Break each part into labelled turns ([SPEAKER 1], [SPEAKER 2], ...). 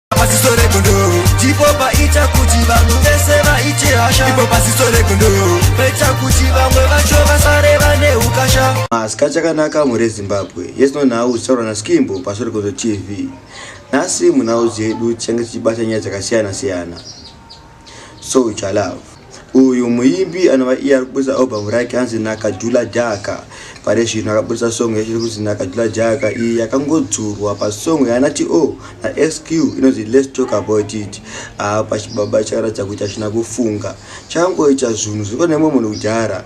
[SPEAKER 1] paziso regondo ndipo paita kuti vanhu vese vaite hasha ipo paziso regondo paita kuti vamwe vacho vasare vane ukasha masika chakanaka mhuri yezimbabwe yesino nhau zitaurwa naskimbo paso regondo tv nhasi munhau dzedu tichange tichibata nyaya dzakasiyana siyana Soja Love uyu muimbi anova iye ari kuburitsa albhamu rake hanzi nakajula jaka pari zvino akaburitsa song yacho iri kunzi nakajula jaka iyi yakangodzurwa pasong yaana to oh, nasq inonzi lets talk about it apa chibaba chakaratidza kuti hachina kufunga changoita zvinhu zviko nemwe munhu kudhara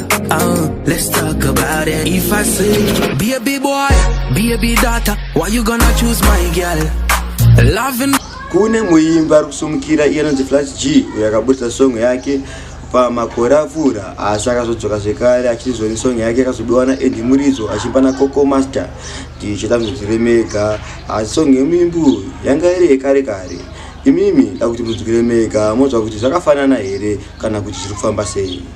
[SPEAKER 2] Oh, let's talk about it. If I say, baby boy, baby daughter, why you gonna choose my girl? Loving. Kune muimbi
[SPEAKER 1] ari kusumukira iye anonzi Flash G uyo akaburitsa song yake pamakore apfuura asi akazodzoka zvekare achizwa nesong yake akazobiwa naendi muridzo achipa nacoco master tichita muzvizire mega asi song yemuimbi uyu yanga iri yekare kare imimi da kuti mudzukire mega mozva kuti zvakafanana here kana kuti zviri kufamba sei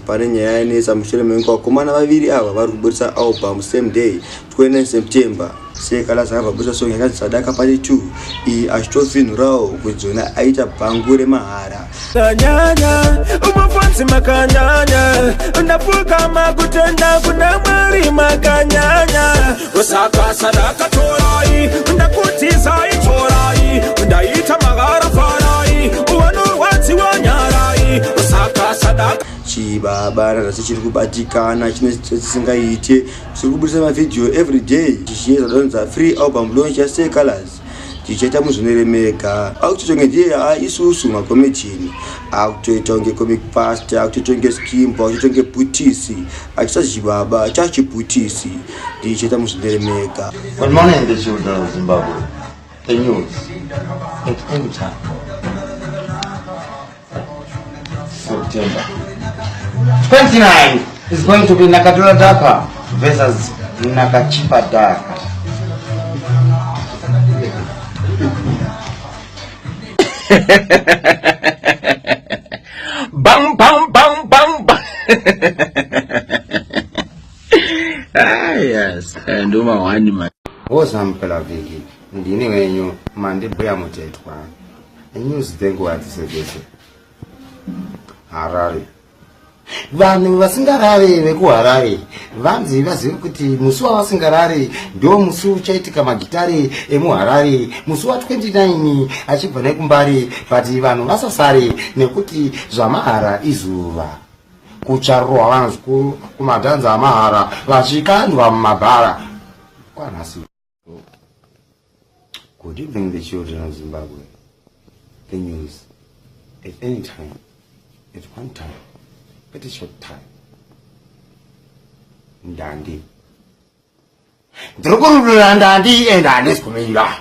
[SPEAKER 1] pane nyaya yanetsa mushure mekunge vakomana vaviri ava vari kuburitsa album same day 29 september sekalasa akabva buritsa song yakanzi sadaka pati 2 iyi achitofinhurawo kuti dzona aita bhangu remahara kanyanya
[SPEAKER 3] umafansi makanyanya ndapfukama kutenda kuna mwari makanyanya ndosaka sandakatorai ndakudzizai torai ndaita magara farai uvanorwadziwa nyarai ndosaka sadaka chibaba rarasi chiri kubatikana chine chisingaite chiri kubudisa mavhidhiyo every day chichiedza donza free album launch yasecalors tichaita muzvinere mega akutotonge ndiye a ah, isusu makomejini akutoita kunge comic past akutoita kunge skimbo akutoita kunge bhutisi achisazhibaba chachibhutisi ndichaita muzvinere mega Good morning, the
[SPEAKER 4] children of Zimbabwe. The news at any time. September 29 is going to be Nakadura Daka versus Nakachipa Daka. bang bang bang bang bang ah yes and uma wani man woza mpelavhiki ndini wenyu mandibhuya mutetwa News dzenguva dzese dzese Harare vanhu vasingarare vekuharare vanzi vazive kuti musi wavasingarare ndo musi uchaitika magitare emuharare musi wa 29 achibva nekumbare but vanhu vasasare nekuti zvamahara izuva kucharohwa vanhu zvikuru kumadhanza amahara vachikandwa mumabhara kwanhasi Good evening, the children of Zimbabwe. The news at any time, at one time, at a short time. Ndandi. Ndrokurudura ndandi and handis kumira.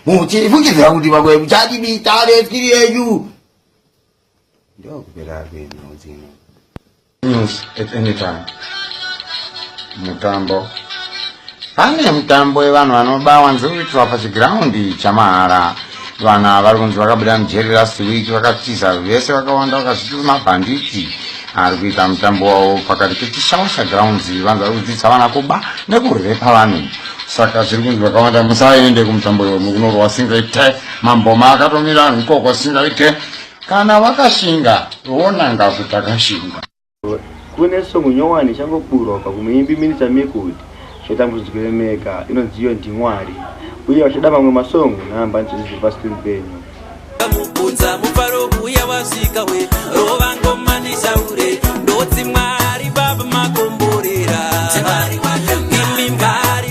[SPEAKER 4] Muchifungidza kuti vamwe muchadibita veskiri yenyu. ndokupera kwenyu dzino news at any time mutambo pane mutambo wevanhu vanoba wanzi kuitwa pachigiraundi chamahara vanhu ava vari kunzi vakabuda mujeri last week vakatiza vese vakawanda vakazviti mabhanditi ari kuita mutambo wavo pakati pechishawasha grounds vanzi vari kudzidzisa vana kuba nekurhepa vanhu saka zviri kunzi vakawanda musaende kumutambo iwe mukunorwa singaite mamboma akatomira ikoko singaite kana wakashinga wonanga kuti akashinga kune
[SPEAKER 1] songo nyowani ichangoburwa pa kumuimbi minita mikuti zvatambudziko yemeka inonziyo ndimwari uye vachida mamwe masongo namba nzizi dziri pascreen penyu mubvunza
[SPEAKER 5] mufaro uya wasvika we rova ngoma ndisaure ndotsi mwari baba makomborera imimvari